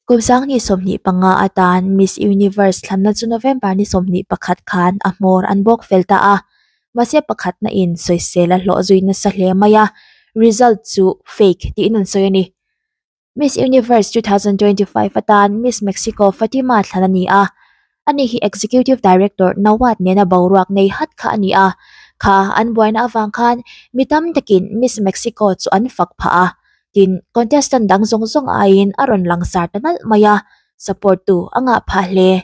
Kawmsang ni sawmhnih panga a tan Miss Universe thlanna chu November ni sawmhnih pakhat khan a hmawr an bawk fel ta a, mahse pakhatna in sawisel a hlawh zui nasa hle mai a, result chu fake tiin an sawi a ni. Miss Universe 2025 atan Miss Mexico Fatima thlan a ni a, a ni hi Executive Director Nawad nena boruak nei hat kha a ni a, kha an buaina avang khan mi tam takin Miss Mexico chu an fak phah a, tin, contestant dang zawng zawng aiin a rawn langsar ta nalh mai a, support tu a ngah phah hle.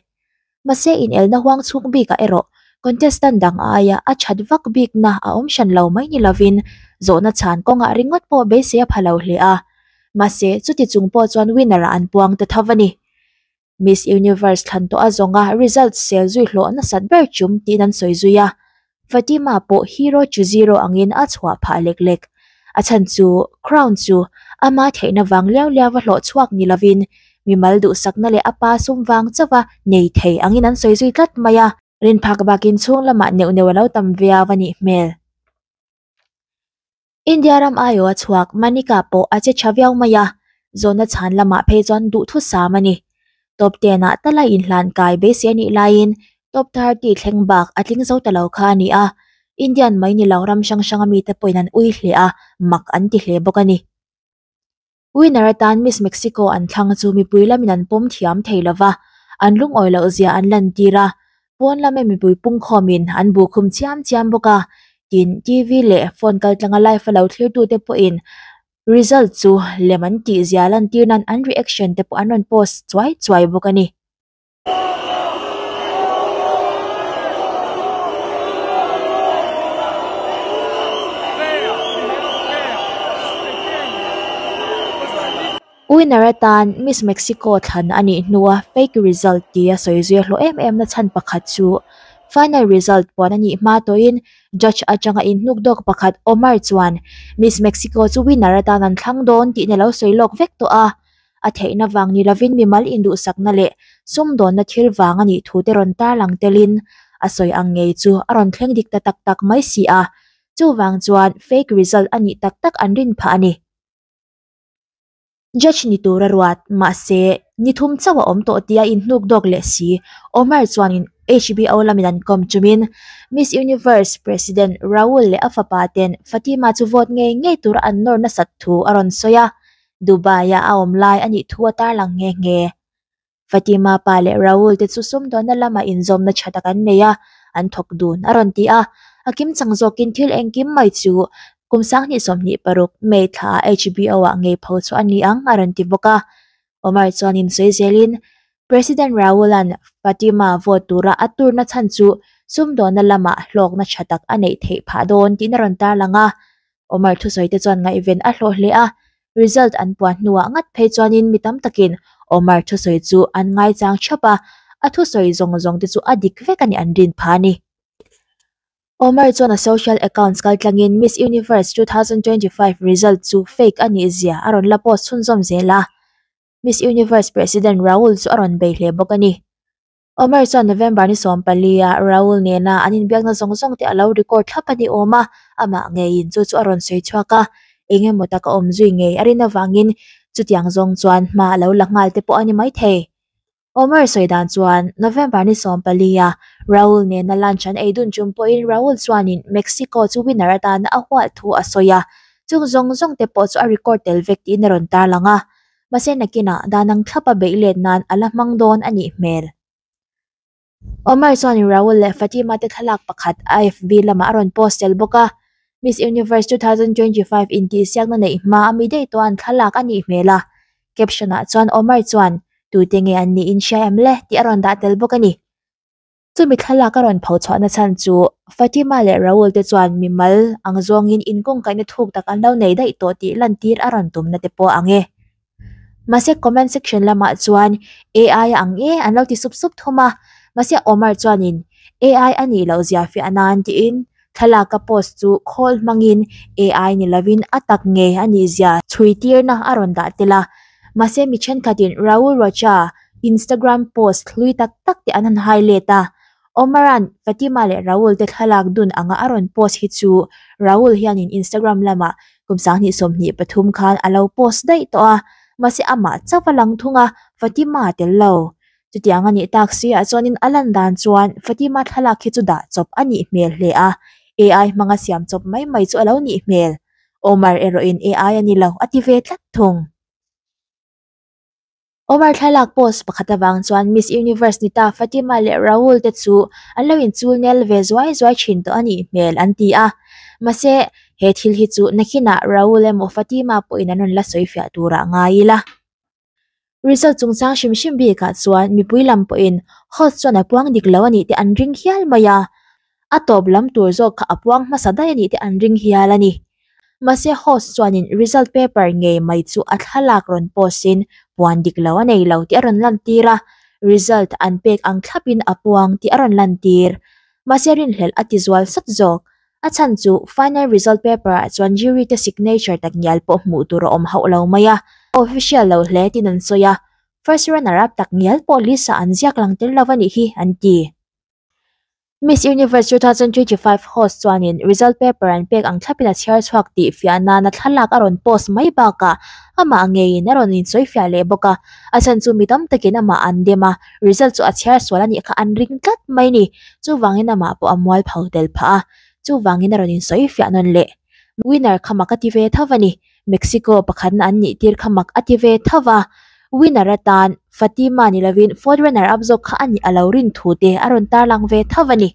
Mahse, inelna huang chhung bikah erawh contestant dang a aia a that vak bikna a awm hran lo mai ni lovin zawhna chhan kawnga ringawt pawh beisei a pha lo hle a. Mahse, chuti chung pawh chuan winner-a an puang ta tho a ni. Miss Universe thlan tawha zawnga result sel zui hlawh nasat ber chum tiin an sawi zui a. Fatima pawh hero chu zero angin a chhuah phah lek lek. A chhan chu Crown chu ama theihna vang liau liau a hlawh chhuak ni lovin mimal duhsakna leh a pa sum vang chauha nei thei angin an sawi zui tlat mai a. Rinphak bakin chhunglamah neuh neuh a lo tam viau a nih hmel. India ram aiawh a chhuak Manika pawh a che tha viau mai a, zawnna chhan lamah phei chuan duhthusam a ni. Top ten-ah ta la inhlan kai beisei a nih laiin top thirty thleng bak a tling zo ta lo kha a ni a, Indian mai ni lo ram hrang hranga mite pawhin an ui hle a, mak an ti hle bawk a ni. Winner atan Miss Mexico an thlang chu mipui lamin an pawm thiam thei lo va, an lungawi loh zia an lantir a, pawn lama mipui pungkhawmin an bu khum chiam chiam bawk a, tin TV leh phone kaltlanga live-a lo thlirtute pawhin result chu lem an tih zia lantir nan an reaction te pawh an rawn post chuai chuai bawk a ni. Winner-a tan Miss Mexico thlan a nih hnu a fake result tia sawi zui a hlawh em em na chhan pakhat chu final result puan a nih hma tawhin judge atanga inhnuk dawk pakhat Omar chuan Miss Mexico chu winner atan an thlang dawn tih in a lo sawi lawk vek tawh a. a theihna vang ni lovin mimal induhsakna leh sumdawnna thil vang a nih thu te rawn tarlang telin a sawi ang ngei chu a rawn thleng dik ta tak tak mai si a, chuvang chuan fake result a nih tak tak an rin phah a ni. Judge ni tur a ruat, mahse, ni thum chauh a awm tawh tia in hnuk dawk leh si. Omar chuanin HBO lamin an kawm chumin Miss Universe President Raul leh a fapa ten Fatima chu vote ngei ngei tura an nawr nasat thu a rawn sawi a, Dubai ah a awm lai a nih thu a tarlang nghe nghe. Fatima pa leh Raul te chu sumdawnna lama inzawmna tha tak an nei a, an thawk dun a rawn ti a. A kim chang zawkin thil engkim mai chu kum sang hnih sawmhnih paruk May thla HBO ah ngei pho chu a ni ang a rawn ti bawk a. Omar chuan insawi zelin, President Raul-a'n Fatima vote tura a turna chhan chu sumdawnna lama hlawkna tha tak a neih theih phah dawn tihna rawn tarlang a. Omar thusawi te chuan ngaihven a hlawh hle a, result an puan hnuah ngat phei chuanin mi tam takin Omar thusawi chu an ngaichang thap a, a thusawi zawng zawng te chu a dik vek a ni an rin pha a ni. Omar chuan a social accounts kal tlangin Miss Universe two thousand twenty five result chu fake a nih zia a rawn la post chhunzawm zel a, Miss Universe President Raul chu a rawn bei hle bawk a ni. Omer chuan November ni sawm palia Raul nena an inbiakna zawng zawng te a lo record thlap a ni awm a, amah ngeiin chu chu a rawn sawi chhuak a, eng emaw tak a awm zui ngei a rin avangin chutiang zawng chuan hma a lo la nghal te pawh a ni maithei. Omer sawi dan chuan November ni sawm palia Raul nena lunch an ei dun chum pawhin Raul chuanin Mexico chu winner atana a hual thu a sawi a, chung zawng zawng te pawh chu a record tel vek tiin a rawn tarlang a. mahse nakinah dah nang thlap a beih let nan a la hmang dawn a nih hmel. Omar chuanin Raul leh Fatima te thlalak pakhat a FB lamah a rawn post tel bawk a, Miss Universe two thousand twenty five intihsiakna neih hma a mi daih tawh a an thlalak a nih hmel a. Caption-ah chuan Omar chuan, Tute nge an nih in hria em le? tih a rawn dah tel bawk a ni. Chumi thlalaka rawn pho chhuah na chhan chu Fatima leh Raul te chuan mimal ang zawng in in kawngkai na thuk tak an lo nei daih tawh tih lantir a rawn tum na te pawh ang e. Mahse comment section lamah chuan AI a ang e an lo ti sup sup thum a. Mahse Omar chuan in AI a nih loh ziah fiah nan tiin Thlalaka post chu khawl hmangin ai ni lovin a tak nge a nih zia chhuitirna a rawn dah tel a. Mahse mi thenkhatin Raul Rocha Instagram post hlui tak tak te an han highlight a. Omaran Fatima leh Raul te thlalak dun anga a rawn post hi chu Raul hianin Instagram lama kum sanghnih sawmhnih pathum khan a lo post daih tawh a. Mahse amah chauh a lang thung a, Fatima tel lo. Chutiang a nih tak si ah chuan in a lan dan chuan Fatima thlalak khi chu dah chawp a nih hmel hle a, AI hmanga siam chawp mai mai chu a lo nih hmel. Omar erawh in AI a ni lo a ti ve tlat thung. Omar thlalak post pakhat avang chuan Miss Universe ni ta Fatima leh Raul te chu an lo in chul nel ve zuai zuai thin tawh a nih hmel an ti a. Mahse, he thil hi chu nakhinah Raul emaw Fatima pawhin an rawn la sawi fiah turah ngai ila. Result chungchang hrim hrim bik ah chuan mipui lam pawh in host chuan a puang dik lo a nih te an ring hial mai a, a tawp lam tur zawk kha a puang hmasa daih a nih te an ring hial a ni. Mahse host chuan in result paper ngei mai chu a thlalak rawn post in puan dik lo a nei lo tih a rawn lan tir a, result an pek ang thlap in a puang tih a rawn lan tir. Mahse rinhlelh a ti zual sat zawk. A chhan chu final result paper ah chuan jury te signature tak ngial pawh hmuh tur a awm hauh lo mai a, official lo hle tin an sawi a, first runner up tak ngial pawh Lisa an ziak lang tel lo a nih hi an ti. Miss Universe two thousand twenty five host chuanin result paper an pek ang thlapin a chhiar chhuak tih fiah nana thlalak a rawn post mai bakah amah ngeiin a rawn insawi fiah leh bawk a, a chhan chu mi tam takin amah an dem a. Result chu a chhiar sual a nih kha an ring tlat mai a ni. Chuvangin amah pawh a mual pho tel phah a, chuvangin a rawn insawi fiah nawn leh. Winner kha mak a ti ve tho a ni. Mexico pakhatna an nih tir kha mak a ti ve tho a. Winner atan Fatima ni lovin fourth runner up zawk kha a nih a lo rin thu te a rawn tarlang ve tho a ni.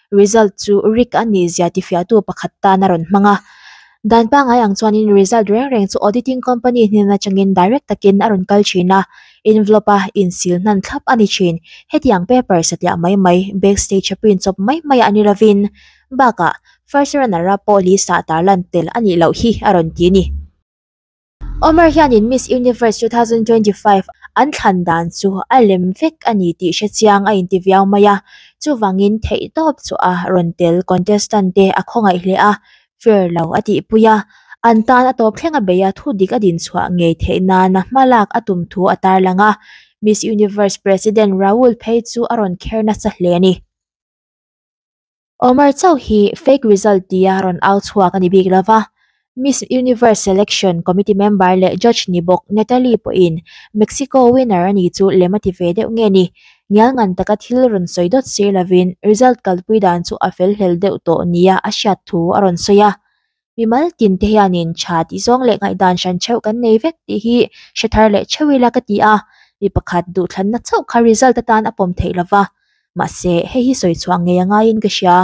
result chu rik a ni zia tifiahtu pakhat tan a rawn hmang a dan pangai ang chuanin result reng reng chu auditing company hnen atangin direct takin a rawn kal thin a envelope a insil hman thlap a ni thin hetiang paper satliah mai mai backstage a print chawp mai mai a ni lovin bakah first runner a pawh lisa tarlan tel a nih loh hi a rawn ti a ni. Omer hianin Miss Universe two thousand twenty five an thlan dan chu a lem vek a ni tih hrechiang a inti viau mai a, chuvangin theihtawp chuaha rawn tel contestant te a khawngaih hle a fair lo a tihpui a, an tan a tawp thlenga beia thu dik a din chhuah ngei theih nana hmalak a tum thu a tarlang a, Miss Universe President Raul phei chu a rawn kher nasa hle a ni. Omar chauh hi fake result tia rawn au chhuak a ni bik lo va, Miss Universe selection committee member leh judge ni bawk Natalie pawhin Mexico winner a nih chu lem a ti ve deuh nge ni? Ngial ngan taka thil rawn sawi dawt sir lovin result kalpui dan chu a fel hlel deuh tawh nia a hriat thu a rawn sawi a. Bimal tin te hianin tha tih zawng leh ngaihdan hran theuh kan nei vek tih hi hre thar leh theuh ila ka ti a, mi pakhat duhthlanna chauh kha result atan a pawm theih lova, mahse hei hi sawi chhuah ngei a ngaiin ka hria.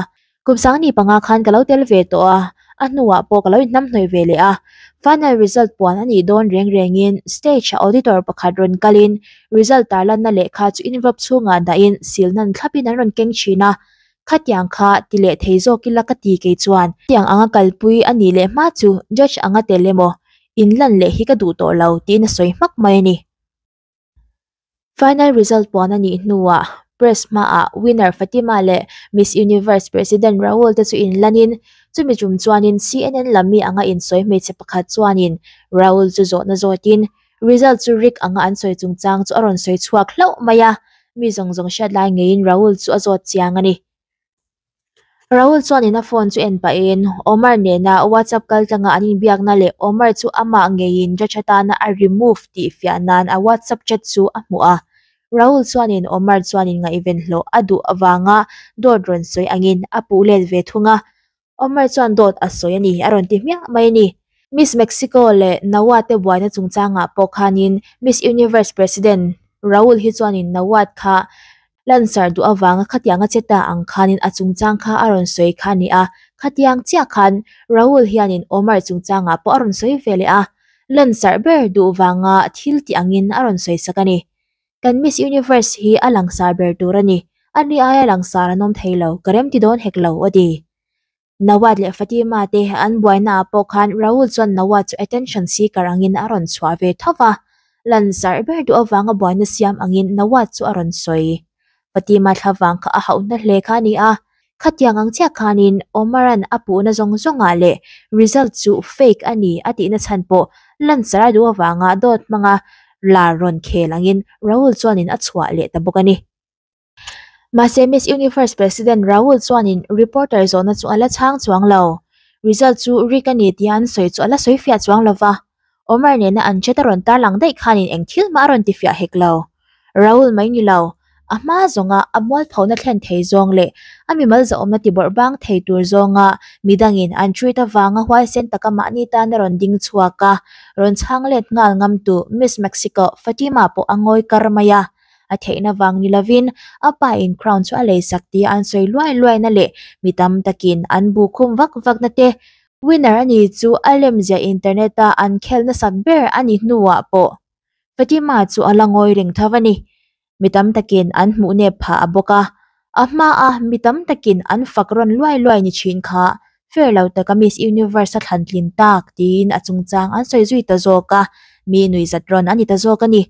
Kum sangni panga khan ka lo tel ve tawh a, a hnuah pawh ka lo inhnamhnawih ve leh a, final result puan a nih dawn reng rengin stage ah auditor pakhat rawn kalin result tarlanna lehkha chu invape chhungah dahin silna ni thlapin an rawn keng thin a, Khatiang kha ti leh thei zawk ila ka ti kei chuan tiang anga kalpui a nih leh hma chu judge anga tel emaw in lan leh hi ka duh tawh lo tiin a sawi hmak mai a ni. Final result puan a nih hnuah press hmaah winner Fatima leh Miss Universe president Raul te chu in lan in chumi tum chuanin CNN lam mi anga in sawi hmeichhe pakhat chuanin Raul chu zawhna zawtin Result chu rik anga an sawi chungchang chu a rawn sawi chhuak hlauh mai a, mi zawng zawng hriat lai ngeiin Rahul chu a zawt chiang a ni. Rahul chuan in a phone chu en pahin Omar nena WhatsApp kal tanga an inbiakna leh Omar chu amah ngeiin ra tha tana a remove tih fiah nan a WhatsApp chat chu a hmu a. Rahul chuan in Omar chuan in ngaihven hlawh a duh avanga dawt rawn sawi angin a puh let ve thung a, Omer chuan dawt a sawi a ni, a rawn ti hmiah mai a ni. Miss Mexico leh Nawat te buaina chungchangah pawh khanin Miss Universe President Raul hi chuanin Nawat kha lansar duh avanga khatiang a che ta ang khanin a chungchang kha a rawn sawi kha a ni a. Khatiang chiah khan Raul hianin Omer chungchangah pawh a rawn sawi ve leh a, lansar ber duh vanga thil tih angin a rawn sawi sak a ni. Kan Miss Universe hi a langsar ber tur a ni. A ni aia langsar an awm thei lo, ka rem ti dawn hek lo, aw di. Nawat leh Fatima te an buainaah pawh khan Raul chuan Nawat chu attention seeker angin a rawn chhuah ve tho va. Lansar ber duh avanga buaina siam angin Nawat chu a rawn sawi. Fatima thlavang kha a hauh na hle kha a ni a, khatiang ang chiah khanin Omar-an a puhna zawng zawngah leh result chu fake a ni a tihna chhan pawh lanchar a duh avanga dawt hmanga lar rawn khel angin Raul chuanin a chhuah leh ta bawk a ni. Mahse Miss Universe President Raul chuanin reporter zawhna chu a la chhang chuang lo, result chu rigged a ni tia an sawi chu a la sawi fiah chuang lova. Omer nena an chat a rawn tar lang daih khanin eng thil hma a rawn ti fiah hek lo. Raul mai ni lo. A hma zawnga a mualphona thlen thei zawng leh a mimal zahawmna tibawrh bang thei tur zawnga midangin an treat avanga huaisen taka mahni tan a rawn ding chhuak a. Rawn chhang let nghal ngamtu Miss Mexico Fatima pawh a ngawi kar mai a. A theihna vang ni lovin a pa in crown chu a lei sak tia an sawi luai luaina leh mi tam takin an bu khum vak vakna te Winner a nih chu a lemzia internet-a an khel nasat ber a ni hnuah pawh Fatima chu a la ngawi reng tho a ni. Mi tam takin an hmuh nep phah a bawk a. A hmaa mi tam takin an fak rawn luai luai ni thin kha, fair lo taka Miss Universe a thlan tlin tak tiin a chungchang an sawi zui ta zawk a, mi nui zat rawn a ni ta zawk a ni.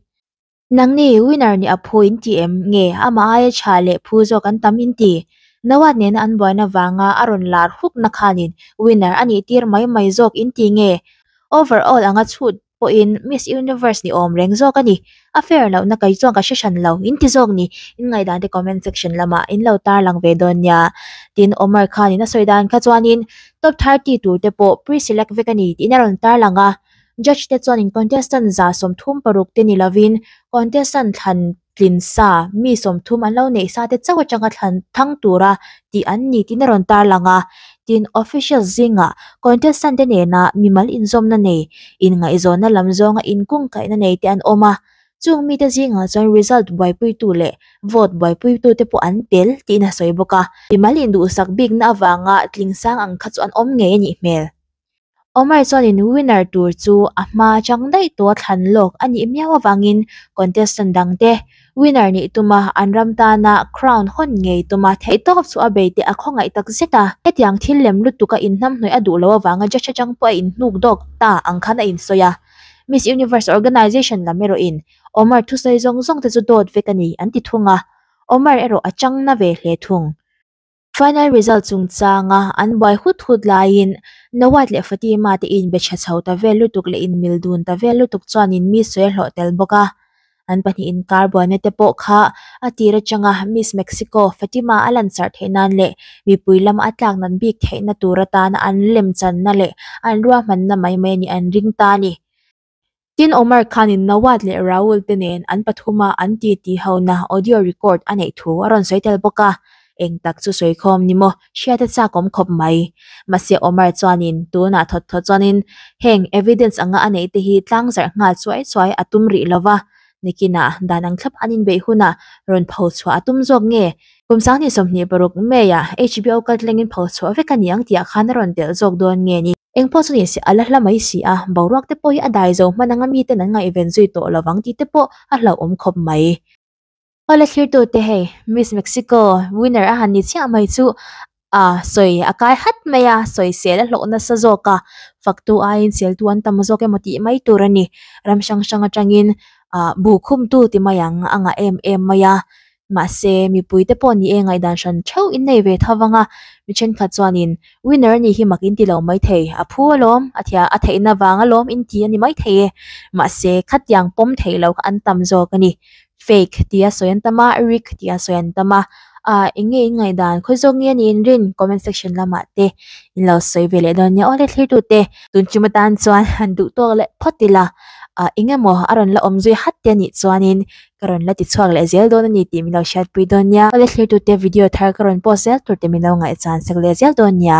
Nang ni winner nih a phu in ti em? Nge amah aia chha leh phu zawk an tam in ti? Nawat nena an buaina vanga a rawn lar hukna khanin winner a nih tir mai mai zawk in ti nge? Overall anga chhut pawhin Miss Universe ni awm reng zawk a ni. A fair lohna kei chuan ka hre hran lo in ti zawk ni. In ngaidante comment section lamah in lo tar lang ve dawn nia. Tin Omar khanin a sawi dan kha chuanin top thirty turte pawh preselect vek a ni tiin a rawn tar lang a. Judge te chuanin contestant za sawmthum paruk te ni lovin contestant thlan tlin sa mi sawmthum an lo neih sa te chauh atanga thlan thang tura tih an ni tiin a rawn tarlang a. Tin, officials zingah contestant te nena mimal inzawmna nei, inngaihzawnna lam zawnga inkawngkaihna nei te an awm a, chung mite zingah chuan result buaipuitu leh vote buaipuitu te pawh an tel tiin a sawi bawk a. Mimal induhsak bikna avanga tling sang ang kha chu an awm ngei a nih hmel. Omar chuanin winner tur chu a hma chang daih tawh a thlan lawk a nih miau avangin contestant dangte winner nih tuma an ram tana crown hawn ngei tuma theihtawp chu a bei teh a khawngaih tak zet a hetiang thil lem lutuk a inhnamhnawih a duh loh avanga judge atang pawh a inhnuk dawk ta ang khan a insawi a Miss Universe organisation lam erawhin Omar thusawi zawng zawng te chu dawt vek a ni an ti thung a Omar erawh a changna ve hle thung. Final result chungchanga an buai hut hut laiin Nawat leh Fatima te in be tha chho ta vel lutuk leh in mil dun ta vel lutuk chuan in miss sawi a hlawh tel bawk a. An pahnih inkar buaina te pawh kha a tir atang a, Miss Mexico Fatima a lansarh theih nan leh mipui lama a tlak nat bik theihna tur atana an lemchanna leh an ruahmanna mai mai a nih an ring ta a ni. Tin, Omar Khan-in Nawaz leh Raul-te nen an pathuma an titihona audio record a neih thu a rawn sawi tel bawk a, eng tak chu sawi khawm ni maw, hriate chak awm khawp mai. Mahse, Omar chuanin tunah thawt thawt chuanin heng evidence anga a neihte hi tlang zarh nghal chuai chuai a tum rih lo va, Nick-ina dan ang thlap an inbeih hunah rawn pho chhuah a tum zawk nge? Kum sang hnih sawmhnih paruk May-a HBO kal tlengin pho chhuah vek a ni ang tih ah khan a rawn telh zawk dawn nge ni? Eng pawh chu ni se a la hla mai si a, boruak te pawh hi a dai zo hman anga mi ten an ngaihven zui tawh lo vang tih te pawh a hlauh awm khawp mai. Aw la thlirtu te hei, Miss Mexico winner a han ni chiah mai chu a sawi a kai hat mai a, sawi sel a hlawh nasa zawk a, faktu aiin seltu an tam zawk emaw tih mai tur a ni. Ram hrang hrang atangin ahh bu khumtu ti mai ang a ngah em em mai a, Mahse, mipui te pawh nih e ngaihdan hran theuh in nei ve tho vang a, mi thenkhat chuanin Winner a nih hi mak in ti lo mai thei, a phu alawm, a thiah a theihna vang alawm in ti a ni mai thei e. Mahse, khatiang pawm theih lo kha an tam zawk a ni. Fake tih a sawi an tam a, rigged tih a sawi an tam a. Aah, eng nge in ngaihdan khawi zawk nge niin rin comment section lamah te in lo sawi ve leh dawn nia aw le thirtute. Tun chim atan chuan han duh tawk leh phawt ila, eng emaw a rawn la awm zui hat te a nih chuanin ka rawn la ti chhuak leh zel dawn a ni tih min lo hriatpui dawn nia ka lehkhlirtute video thar ka rawn post zel tur tih min lo ngaihchhan sak leh zel dawn nia.